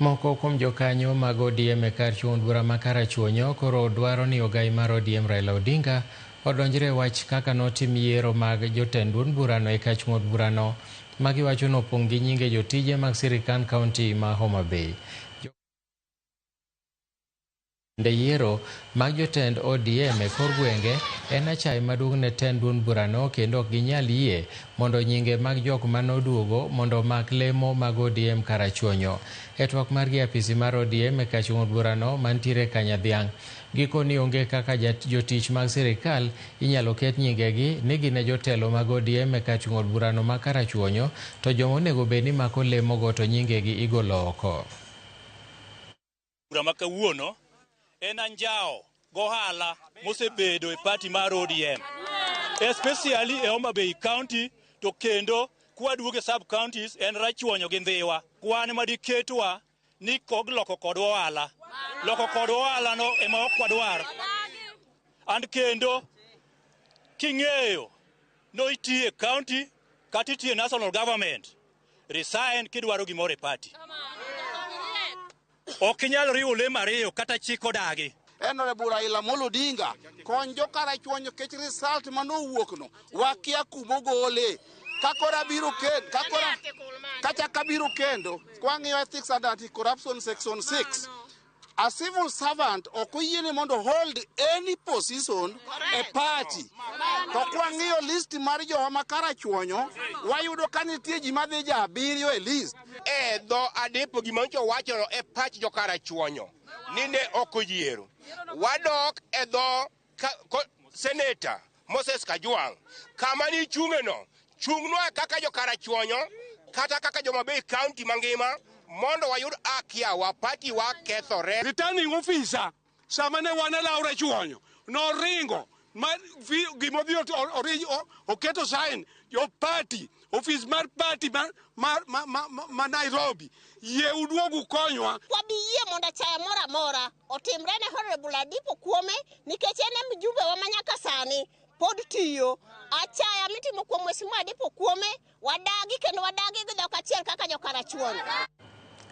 Moko kuom jokanyo mag ODM e kar chuo bura ma Karachuonyo koro dwaro ni ogai mar ODM Raila Odinga odonjre e wach kaka notim yiero mag jotend duond burano e kar chuo burano ma giwacho ni opong' gi nyinge jotije mag sirkand kaunti ma Homa Bay. Bende yiero mag jotend ODM e kor gwenge en achaye maduong' ne tend duond burano kendo ok ginyal yie mondo nyinge mag jok mane oduogo mondo omak lemo mag ODM Karachuonyo. E twak margi e apisi mar ODM e kachung'ud burano mantiere Kanyadhiang', gikoni onge kaka jotich mag sirikal inyalo ket nyingegi ni gin e jotelo mag ODM e kachung'ud burano ma Karachuonyo to joma onego bed ni mako lemogo to nyingegi igolo oko. bura ma kawuono en anjawo gohala mosebedo e pati mar ODM especially e Homa Bay County to kendo kwaduogo e sub counties en Rachuonyo gi Ndhiwa kwan ma diketwa ni kog loko kod ohala loko kod ohala no ema ok wadwar and kendo king'eyo no itiye county kata itiye national government resign kidwaro gimoro e party Ok inyal riwo lemo ariyo kata chik odagi. Honorable Raila Amolo Odinga, kony jo karachuonyo nikech result ma nowuok no, wakia kuma ogole. Ka koro abiro kendo, ka koro kachak abiro kendo, kwang'iyo ethics and anti-corruption section 6, a civil servant ok oyiene mondo hold any position e party. To kwang'iyo list mar jowa ma karachuonyo, wayudo ka nitie ji madhi ja abiriyo e list. e dho adipo gima nyocha owachono e pach jokarachuonyo ni ne ok oyiero. Wadok e dho ka- ko- seneta Moses Kajwang' kama ni chung'eno chung'nwa kaka jokarachuonyo kata kaka joma bei kaunti mangima mondo wayud akiawa patiwa kethore. Returning officer Sama ne wan e law rachuonyo, noringo ma vi- gima odhi ot- o- ori- o- oketo sign jo party ofis mar party ma, ma, ma, ma, ma, ma Nairobi yie uduog ukonywa wabi yie mondo achaya moro amora otimre ne Honorable Adipo Kuome nikech en e mjumbewa ma nyaka sani pod tiyo. Achaya mitimo kuom Mheshimiwa Adipo Kuome wadagi kendo wadagi gi dhok achiel kaka jokarachuonyo.